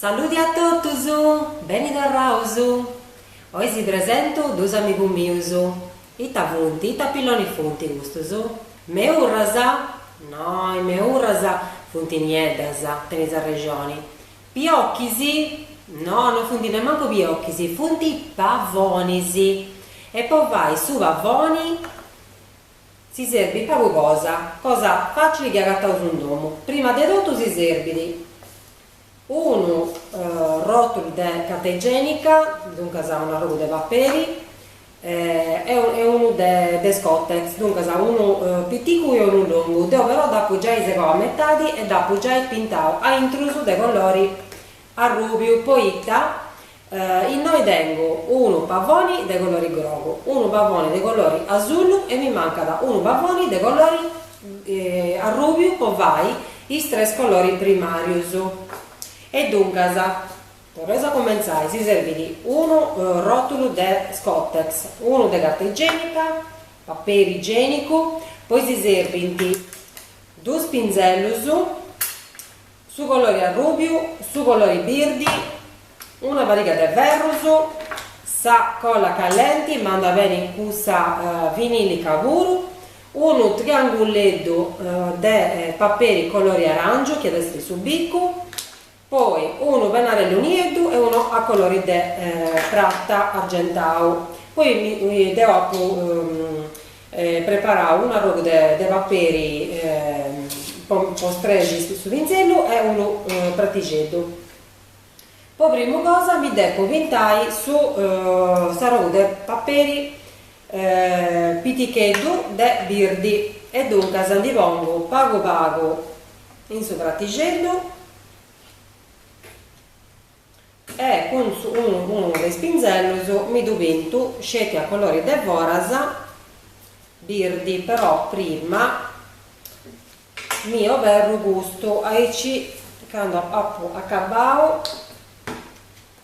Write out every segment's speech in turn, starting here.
Saludi a totus! Beni torraus! Oi si presentu dus amigus mius. Ita funt? Ita pilloni funt custus? Meurras? No, is meurras funt nieddas, tenis arrexoni. Piocus? No, no funt nemmancu piocus, funt pavonis. E po fai su pavoni? Si serbit pagu cosa, cosa facili chi agataus in domu, prima de totu si serbit unu rotulu de carta igenica, duncas un'arrogu de paperi e unu de de scottex, duncas unu piticu e unu longu, deo però dd'apu giai segau a metadi e dd'apu giai pintau a intrus de colori Arrùbiu, poita, innoi tengu unu pavoni de colori grogu, unu pavoni de colori asullu e mi mancat unu pavoni de colori arrùbiu po fai is tres coloris primàrius. E duncas, torraus a cumentzai, si serbit unu ròtulu de scottex, unu de carta igenica, paperi igenicu, poi si serbint dus pinzellus Su colori arrubiu, su colori birdi, una pariga de ferrus, sa colla callenti, ma andat beni cussa vinilica puru, unu trianguleddu de paperi colori arangiu chi at essi su bicu, poi unu pennarellu nieddu e unu a colori de prata argentau, poi deu apu preparau un'arrogu de de paperi po po strexi su pinzellu e unu pratixeddu. Po primu cosa mi depu pintai su s'arrogu de paperi piticheddu de birdi e duncas ndi pongu pagu pagu in su pratixeddu E cun unu de is pinzellus mi ddu pintu sceti a colori de foras birdi però prima mi oberru custu aici candu apu acabbau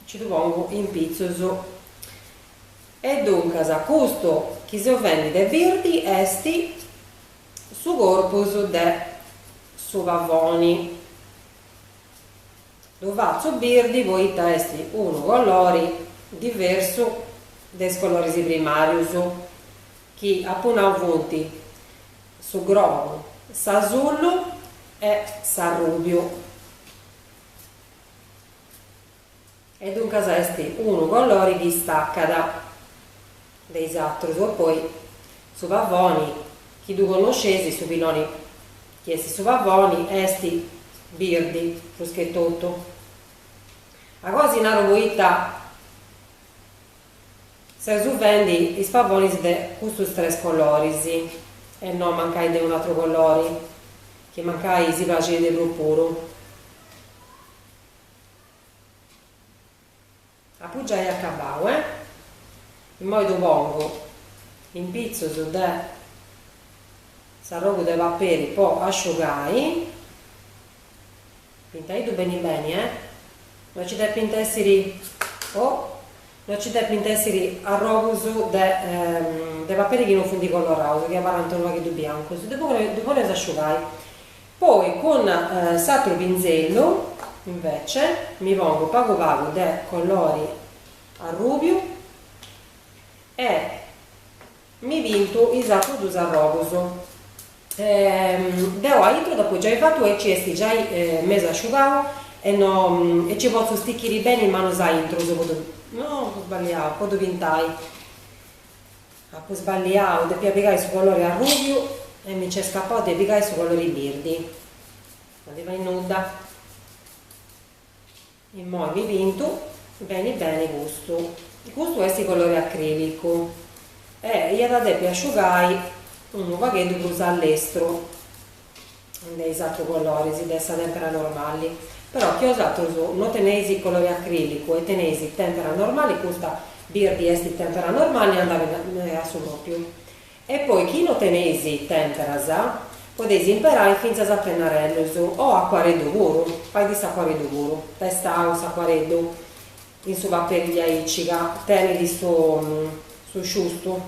nci ddu pongu in pitzus e duncas custu chi seu fendi de birdi est su corpus de su pavoni. Ddu fatzu birdi poita est unu colori diversu de is coloris primàrius chi apu nau funt su grogu, s'asullu e s'arrùbiu. E duncas est unu colori chi stacat. de is atrus oppoi su pavoni chi ddu connoscesi su piloni chi esti su pavoni esti birdi prus che tottu a cosi naru poitta seus fendi is pavonis de custus tres coloris e no mancai de unu atru colori chi mancai si praxit de prus puru. Apu giai acabau e. Immoi ddu pongu in pitzus de s'arrogu de paperi po asciugai. Pintaiddu beni beni e. No nci depint essiri o no nci depint essiri arrogus de de paperi chi no funt coloraus chi abarrant unu pagheddu biancus. Ddu ddu poneus asciugai Poi cun s'atru pinzellu invece mi pongu pagu pagu de colori arrubiu e mi pintu is atrus dus arrogus. Deu aintru dd'apu giai fatu aici est giai mesu asciugau e no nci potzu stichiri beni is manus aintru po ddu no sbagliau po ddu pintai. Apu sballiau, depia pigai su colori arrubiu e mi nc'est scapau de pigai su colori birdi. No ddi fait nudda. Immoi mi pintu beni beni custu. Custu est colori acrilicu e iat a depi asciugai unu pagheddu prus a lestru. de is atru coloris de sa tèmpera normali, però chi osatros no teneis colori acrilicu e teneis tèmpera normali custa birdi est tèmpera normali e andat a su pròpiu. E poi chi no teneis tèmperas podeis imperai fintzas pennarellus o acuarellu puru, fait s'acuarellu puru, bessit s'acuarellu in su paperi diaici ca tenit su su sciustu.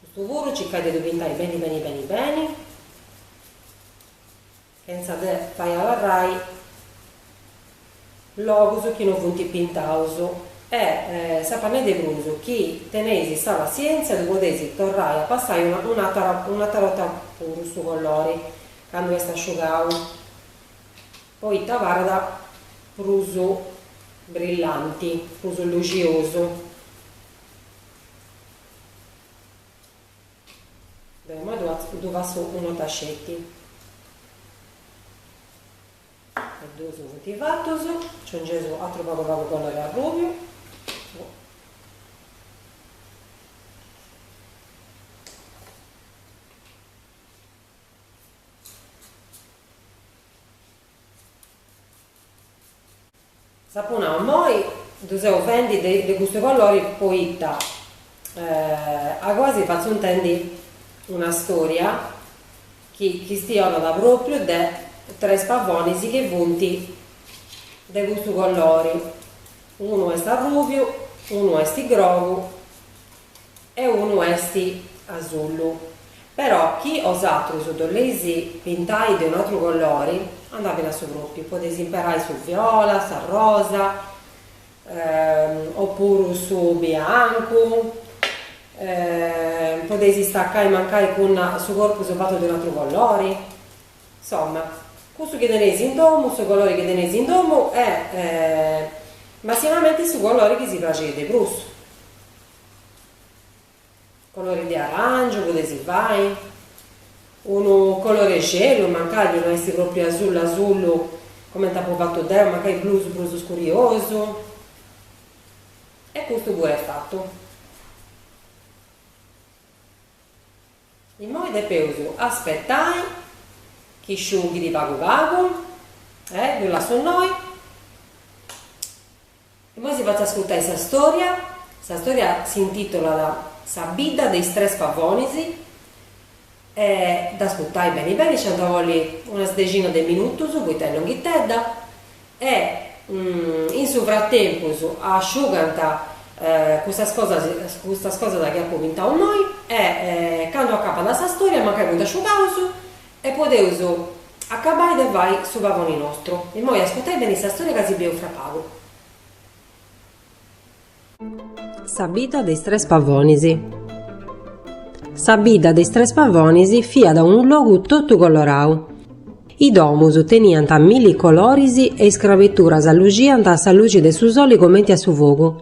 Custu puru circai de ddu pintai beni beni beni beni, chentza de fai abarrai logus chi no funt pintaus e si apu a nai de prus chi teneis sa passièntzia ddu podeis torrai a passai un'atra 'orta puru su colori candu est asciugau. Poita parit prus brillanti, prus luxosu. Deu immoi ddu fassu unu tasceti. E duus funt fatus. Nci poneus atru pagu pagu colori arrubiu. Si apu nau, Immoi ddu seu fendi de custu colori poita a goasi fatzu intendi una storia chi chistionat pròpriu de tres pavonis chi funt de custu colori, unu est arrùbiu, unu est grogu e unu est asullu, però chi bosatrus ddu boleis pintai de un'atru colori andat beni a su pròpiu, podeis imperai su viola, s'arrosa, o puru su biancu, podeis istaccai mancai cun su corpus fatu de un'atru colori, insomma, cussu chi teneis in domu, su colori chi teneis in domu e massimamenti su colori chi si praxit de prus. Colori de aràngiu podeis fai, unu colori 'e celu, mancai chi no est propriu asullu asullu comenti apu fatu deu, mancai prus prus scuriosu. E custu puru est fatu. Immoi depeus aspetai chi sciughit pagu pagu e ddu lassu innoi. Immoi si fatzu ascurtai sa storia, sa storia s'intitolat Sa bidda de is tres pavonis e dd'ascurtai beni beni, nci ant a bolli una dexina de minutus, poita est longhitedda. E in su fratempus asciugant custas cosas custas cosas chi apo pintadu innoi e candu acabat sa stòria mancai funt asciugaus e podeus acabai de fai su pagoni nostru. Immoi ascurtai beni sa stòria ca si bieus fra pagu. Sa bidda de is tres pavonis. Sa bidda de is tres pavonis fiat unu logu totu colorau. Is domus teniant milli coloris e is crabeturas luxiant a sa luxi de su soli comenti a su fogu.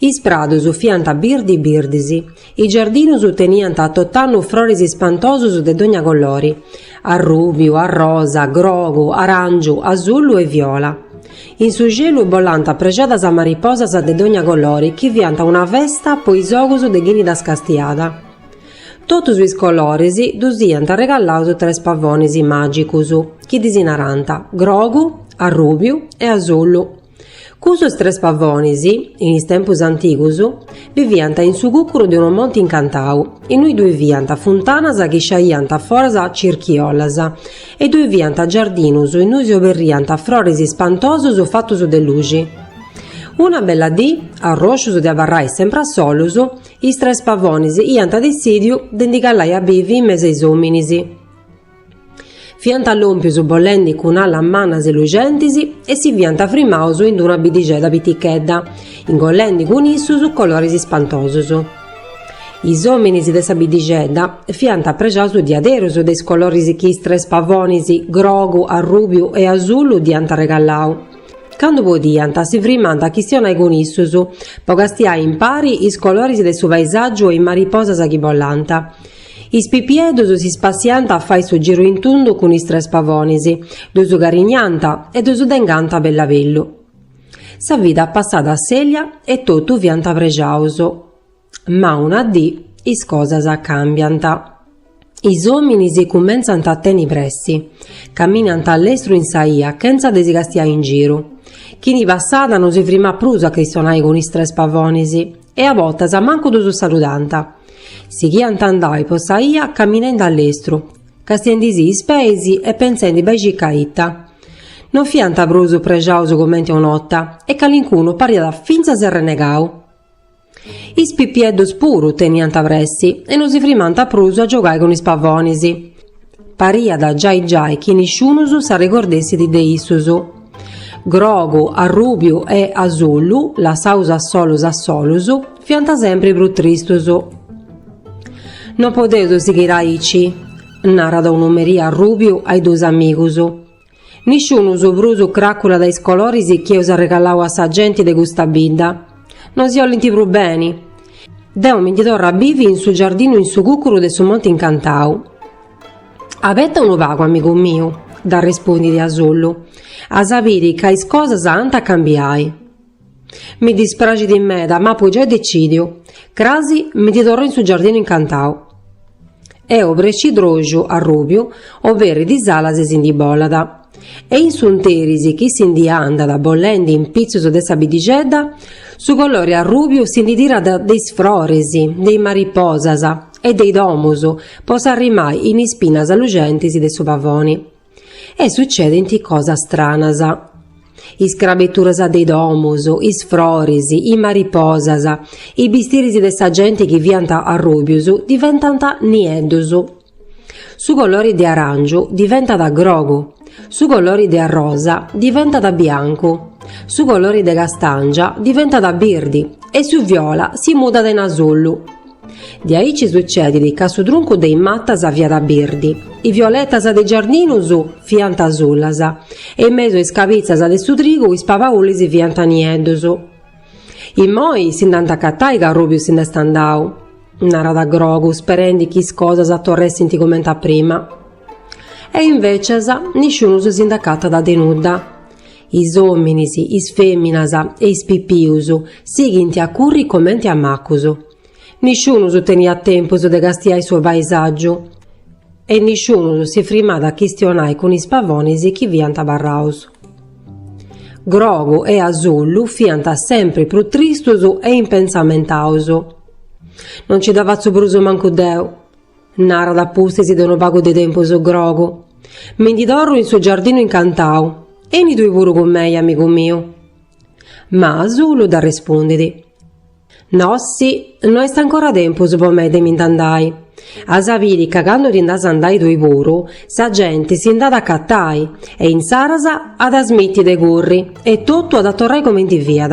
Is pradus fiant birdi birdis. Is giardinus teniant tot'annu froris ispantosus de dogna colori, arrùbiu, arrosa, grogu, aràngiu, asullu e viola. In su celu bolànt prexadas mariposas de dogna colori chi fiant una festa po is ogus de chini ddas castiat. Totus is coloris ddus iant arregalaus tres pavonis màgicus chi ddis narànt, grogu, arrùbiu e asullu. Cussus tres pavonis, in is tempus antigus, biviant in su cucuru de unu monti incantau, innui ddui fiant funtanas chi sciaiant foras circhiollas e ddui fiant giardinus innui s'oberriant froris ispantosus fatus de luxi. Una bella dì, arroscius de abarrai sempri a solus, is tres pavonis iant dessìdiu de ndi calai a bivi in mesu a is òminis. Fiant lòmpius bolendi cun alas mannas e luxentis e si fiant frimaus in d-una biddixedda pitichedda, ingollendi cun issus coloris ispantosus. Is òminis de sa biddixedda fiant prexaus diaderus de is coloris chi is tres pavonis, grogu, arrùbiu e asullu, dd'iant arregalau. Candu podiant, si frimant a chistionai cun issus, po castiai impari is coloris de su paisàgiu e is mariposas chi bolant. Is pipieddus si spassiant a fai su giru in tundu cun is tres pavonis, ddus carinniant e ddus dengant a bellu a bellu. Sa vida passat assèlia e totu fiant prexaus. Ma una dì is cosas càmbiant. Is òminis cumentzant a tenni pressi, caminant a lestru in sa 'ia chentza de si castiai in giru. Chini passat non si frimat prus a chistionai cun is tres pavonis. e a bortas mancu ddus saludant. Sighiant a andai po sa 'ia caminendi a lestru, castiendi·sì is peis e pentzendi bai e circa ita. Non fiant prus prexaus comenti una 'orta e calincunu pariat fintzas arrenegau. Is pipieddus puru teniant pressi e non si frimant prus a giogai cun is pavonis. Pariat giai giai chi nisciunus s'arregordessit de issus. Grogu, arrùbiu e asullu, lassaus a solus a solus, fiant sempri prus tristus. No podeus sighiri aici, narat unu merì arrùbiu a is duus amigus. Nisciunus prus craculat is coloris chi eus arregalau a sa genti de custa bidda. No si 'ollint prus beni. Deu mi ndi torru a bivi in su giardinu in su cucuru de su monti incantau. Abeta unu pagu, amigu miu, dd'arrespundit Asullu, as a biri ca is cosas ant a cambiai. Mi dispraxit meda, ma apu giai decìdiu. Cras mi ndi torru in su giardinu incantau. A obrescidroxu Arrùbiu oberit is alas e si ndi bolat. E in s'interis chi si ndi andat bolendi in pitzus de sa biddixedda, su colori arrùbiu si ndi tirat de is froris, de is mariposas e de is domus po s'arrimai in is pinas luxentis de su pavoni. e sutzedint cosas stranas. Is crabituras de i domus, is froris, i mariposas, i bistiris de sa genti chi fiant arrùbius diventant nieddus. Su colori de aràngiu diventat grogu, su colori de arrosa diventat biancu, su colori de castàngia diventat birdi e su viola si mudat in asullu. De aici sutzedit ca su truncu de is matas fiat birdi, is violetas de is giardinus fiant asulas e in mesu a is cabitzas de su trigu is pabaulis fiant nieddus. Immoi si nd'ant a acatai ca Arrùbiu si nd'est andau, narat Grogu, sperendi chi is cosas torressint cumenti a prima. E invètzias nisciunus si nd'acatat de nudda. Is òminis, is fèminas e is pipius sighint a curri comenti a macus. Nisciunus teniat tempus de castiai su paisàgiu e nisciunus si frimat a chistionai cun is pavonis chi fiant abarraus. Grogu e Asullu fiant sempri prus tristus e impensamentaus. Non nci dda fatzu prus mancu deu. Narat a pustis de unu pagu de tempus Grogu, Mi ndi torru in su giardinu incantau, beni tui puru cun mei, amigu miu. Ma Asullu dd'arrespundit, Nossi, no est ancora tempus po mei de mi nd'andai. As a biri ca candu ti nd'as a andai tui puru, sa genti si nd'at a acatai e insaras at a smiti de curri e totu at a torrai comenti fiat.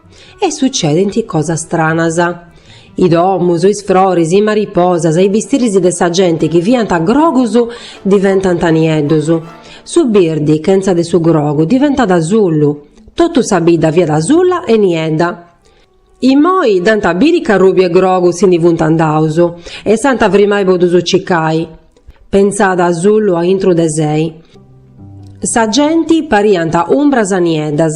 e sucedint cosas stranas. I domus, is froris, i mariposas e i bistiris de sa genti chi fiant grogus diventant nieddus. Su birdi, chentza de su grogu, diventat asullu. Totu sa bidda fiat asulla e niedda. Immoi dd'ant a biri ca Arrùbiu e Grogu si ndi funt andaus e s'ant a frimai po ddus cicai. Pensat Asullu a intru de sei. Sa genti pariant umbras nieddas,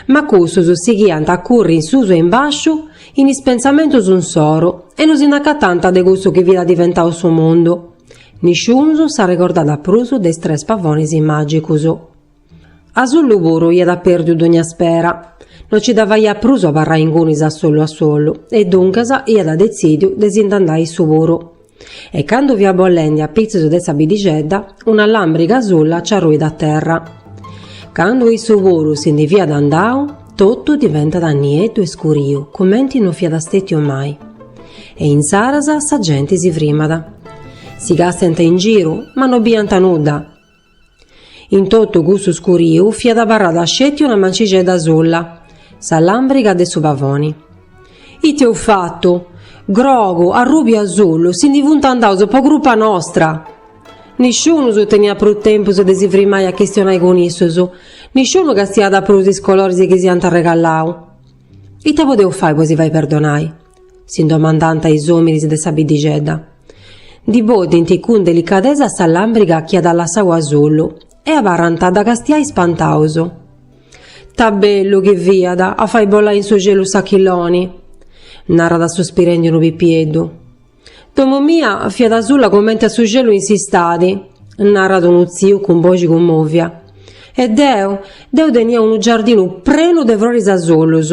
ma cussus sighiant a curri in susu e in bàsciu in is pensamentus insoru e no si nd'acatant de cussu chi fiat diventau su mundu. Nisciunus s'arregordat prus de is tres pavonis màgicus. Asullu puru iat pèrdiu dogna spera. No nci dda faiat prus a abarrai ingunis a solu a solu e duncas iat detzìdiu de si nd'andai issu puru. E candu fiat bolendi a pitzus de sa bidixedda, una làmbriga asulla nci arruit a terra. Candu issu puru si ndi fiat andau, totu diventat nieddu e scuriu cumenti no fiat stètiu mai. E insaras sa genti si frimat. Si castent in giru, ma no biant nudda. In totu cussu scuriu fiat abarrada sceti una mancixedda asula, sa làmbriga de su pavoni. Ite eus fatu? Grogu, arrubiu, asulu, si ndi funt andaus po crupa nostra! Nisciunus teniat prus tempus de si firmai a chistionai cun issus, nisciunu castiat prus is coloris chi si ant arregallau. Ite podeus fai po si fai perdonai? si domandant is òminis de sa biddixedda. Ndi bodint cun delicadesa sa làmbriga chi at lassau Asulu e abarrant a dda castiai ispantaus. Ta bellu chi fiat a fai bolai in su celu s'achilloni! narat suspirendi unu pipieddu. Domu mia fiat asula cumenti a su celu in s'istadi, narat unu tziu cun boxi cummòvia. E deu, deu tenia unu giardinu prenu de froris asulus!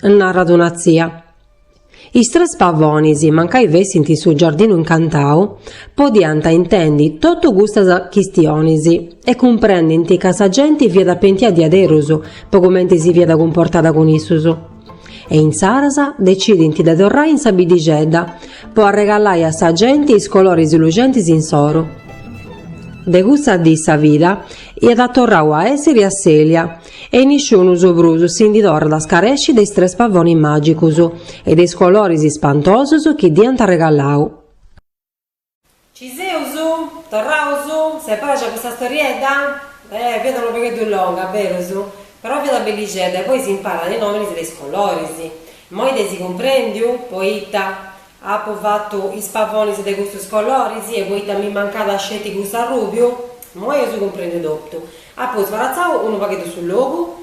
narat una tzia. Is tres pavonis, mancai fessint in su giardinu incantau, podiant intendi totu custas chistionis e cumprendint ca sa genti fiat pentia diaderus po cumenti si fiat cumportada cun issus. E insaras decidint de torrai in sa biddixedda po arregalai a sa genti is coloris luxentis insoru. De cussa dì sa vida at torrau a essiri asselia, E nisciunus prus si ndi torrat a scaresci de is tres pavonis màgicus e de is coloris ispantosus chi dd'iant arregallau. Ci seus? Torraus? S'est praxia custa storiedda? Eh, fiat unu pagheddu longa, berus, però fiat bellixedda e poi si imparat is nominis de is coloris. Immoi dd'eis cumprendiu? Poita. Apu fatu is pavonis de custus coloris e poita mi mancàt sceti cussu arrùbiu, imoi eis cumprendiu totu. Apu sbaratzau unu pagheddu su logu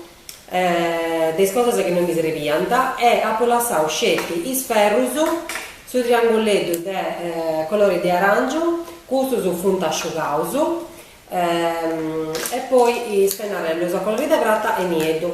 de is cosas chi no mi srebiant e apu lassau sceti is ferrus, su trianguleddu de colori de aràngiu, custus funt asciugaus, e poi is pennarellus a colori de prata e nieddu.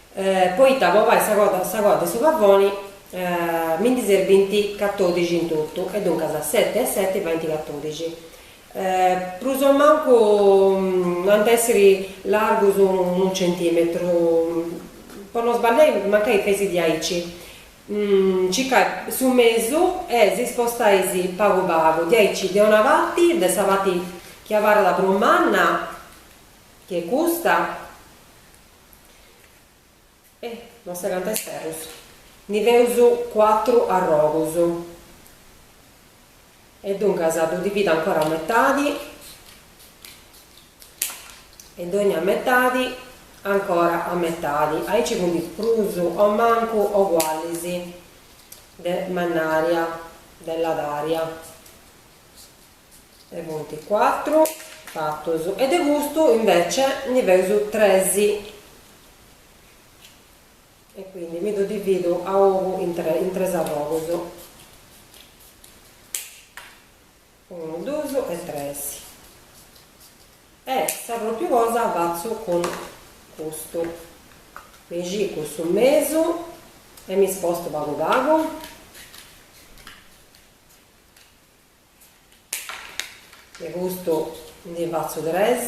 poita po fai sa coda de su pavoni mi ndi serbint catodixi in totu e duncas seti e seti faint catodixi prus o mancu no ant a essiri largus unu centimetru po no sballiai mancai fadeis diaici circai su mesu e si spostai si pagu pagu diaici de una parti de sa parti chi abarrat prus manna chi est custa E nosu de custu. Ndi feus cuatru arrogus. E duncas ddu divido ancora a metadi e dogna metadi ancora a metadi. Aici funt prus o mancu ogualis de mannària, de ladària. de puntu cuatru fatus e de custu invece ndi feus tres e quindi mi ddu dividu a ogu in tres arrogus unu, dus e tres e sa propriu cosa fatzu cun custu mi cicu su mesu e mi spostu pagu pagu De custu ndi fatzu tres.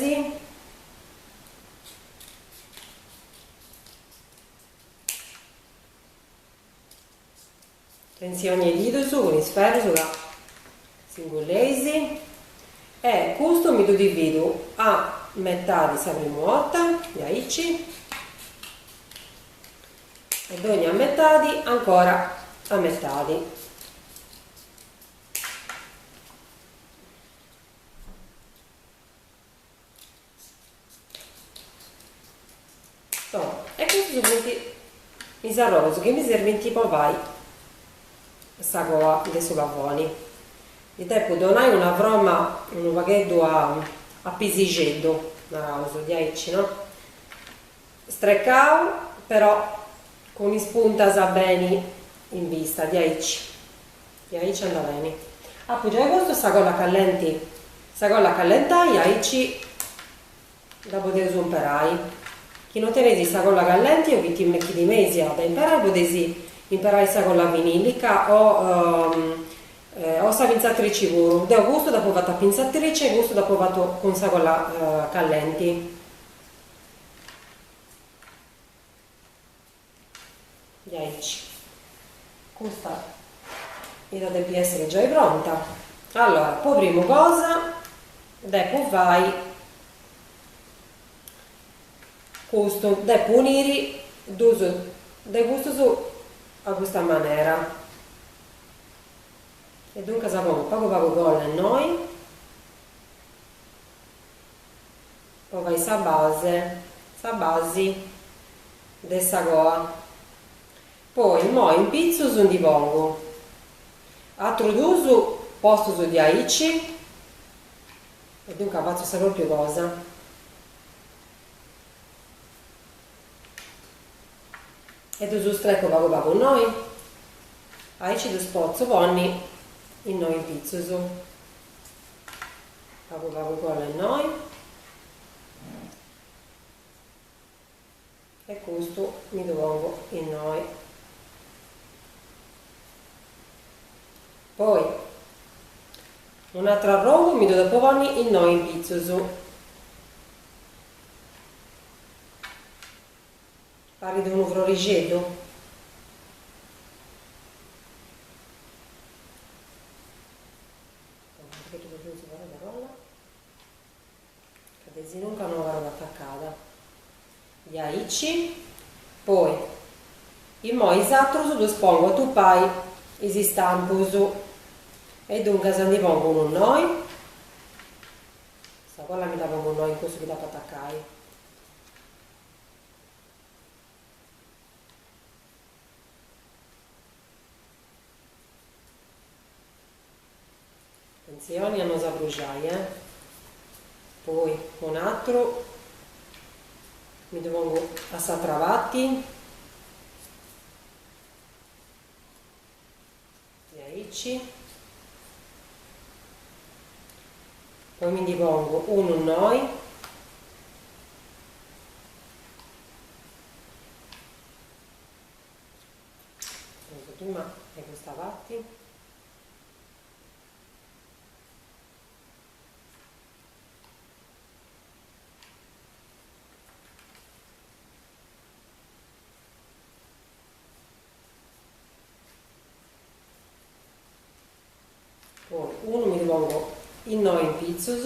Tensioni 'e didus cun is ferrus ca si pungeis. E custu mi ddu dividu a metadi sa primu 'orta, diaici, e dogna metadi ancora a metadi. e custus funt is arrogus chi mi serbint po fai sa coa de su pavoni ddi depu donai una froma unu pagheddu a pisixeddu naraus diaici no strecau però cun is puntas beni in vista diaici E aici andat beni. Apu giai postu sa colla callenti. Sa colla est a callentai aici dda podeus umperai. Chi no teneis sa colla callenti o chi timeis de dda imperai podeis imperai sa colla vinilica o o sa pintzatrici puru. Deu custu dd'apu fatu a pintzatrici e custu dd'apu fatu cun sa colla callenti. Diaici. Custa iat depi èssiri giai pronta. Allora, po primu cosa, depu fai custu. Depu uniri dus de custus a custa manera. E duncas, pongu pagu pagu colla innoi, po fai sa base, sa basi de sa coa, poi immoi in pitzus ndi pongu atrus dus postus diaici e duncas fatzu sa propriu cosa. E ddus strecu pagu pagu innoi, aici ddus potzu ponni innoi in pitzus. Pagu pagu colla innoi. E custu mi ddu pongu innoi. Poi un'atru arrogu mi ddu depu ponni innoi in pitzus. Parit unu frorixeddu. Perché tu perché non si parla de rolla? Ca de sinunca no abarrat attaccada. Diaici, poi, immoi is atrus ddus pongu a tupai is istampus. E duncas ndi pongu unu innoi. Sa colla mi dda pongu innoi in cussu chi dd'apu attaccai. Atentzioni a no s'abruxai, eh! Poi un'atru, mi ddu pongu a s'atra parti, diaici, poi mi ndi pongu unu innoi, Pongu prima de custa parti. Poi unu mi ddu pongu innoi in pitzus.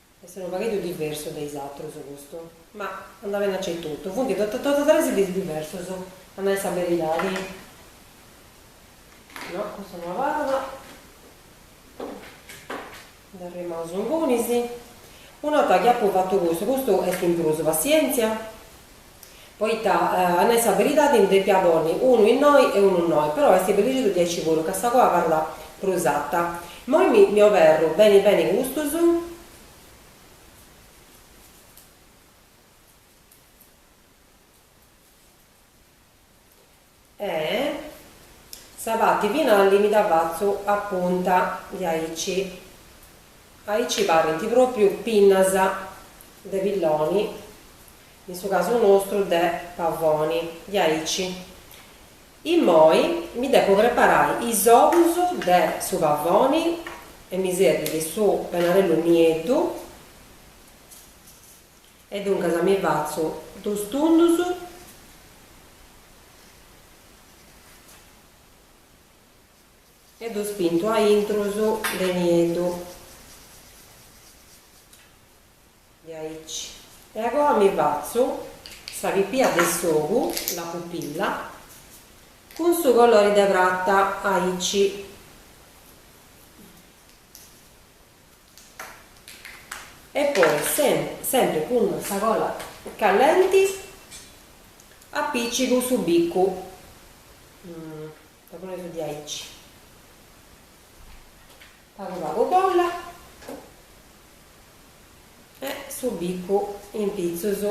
Est unu pagheddu diversu de is atrus custu, ma andat beni aici etotu. Funt totu totu tres ideas diversas, a nai sa beridadi. No, custa no abarrat. Dd'arrimaus ingunis. Un'orta chi apu fatu custu, custu est in prus, passièntzia. Poita, a nai sa beridadi, ndi depia ponni unu innoi e unu innoi, però est bellixeddu diaici puru ca sa coa abarrat prus ata. Moi mi oberru beni beni custus. E sa pati finali mi dda fatzu a punta diaici, aici parint propriu pinnas de pilloni, in su casu nostru de pavoni, diaici. Immoi mi depu preparai is ogus de su pavoni e mi serbit su penarellu nieddu. E duncas mi fatzo duus tundus. E ddus pinto a intrus de nieddu. Diaici. E agoa mi fatzo sa pipia de s'ogu, la pupilla, cun su colori de prata, aici. E poi semper cun sa colla callenti apicigu su bicu diaici pagu pagu colla e su bicu in pitzus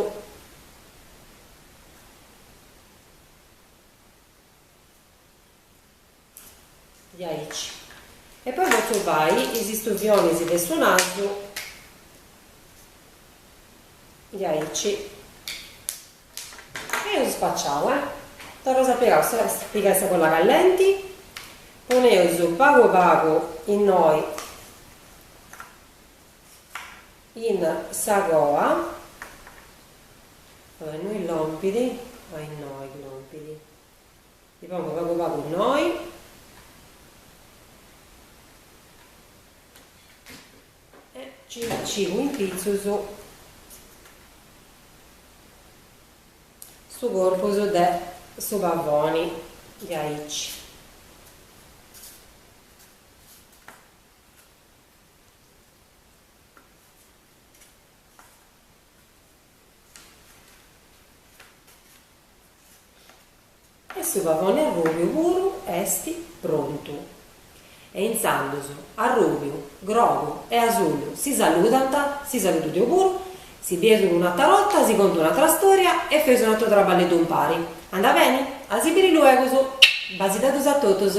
diaici e poi potzu fai is istuvionis de su nasu diaici e eus spaciau e torraus a pigai sa colla callenti poneus pagu pagu innoi in sa coa innoi lòmpidi innoi lòmpidi Ddi pongu pagu pagu innoi. E nci dd'apìcigu in pitzus su corpus de su pavoni diaici. E su pavoni arrùbiu puru est prontu. E intzandus arrùbiu, grogu e asullu si saludant, si saludu deu puru, si bieus un'atra borta, si contu un'atra stòria e feus unu atru traballeddu impari. Anda beni? A si biri luegus! Basideddus a totus!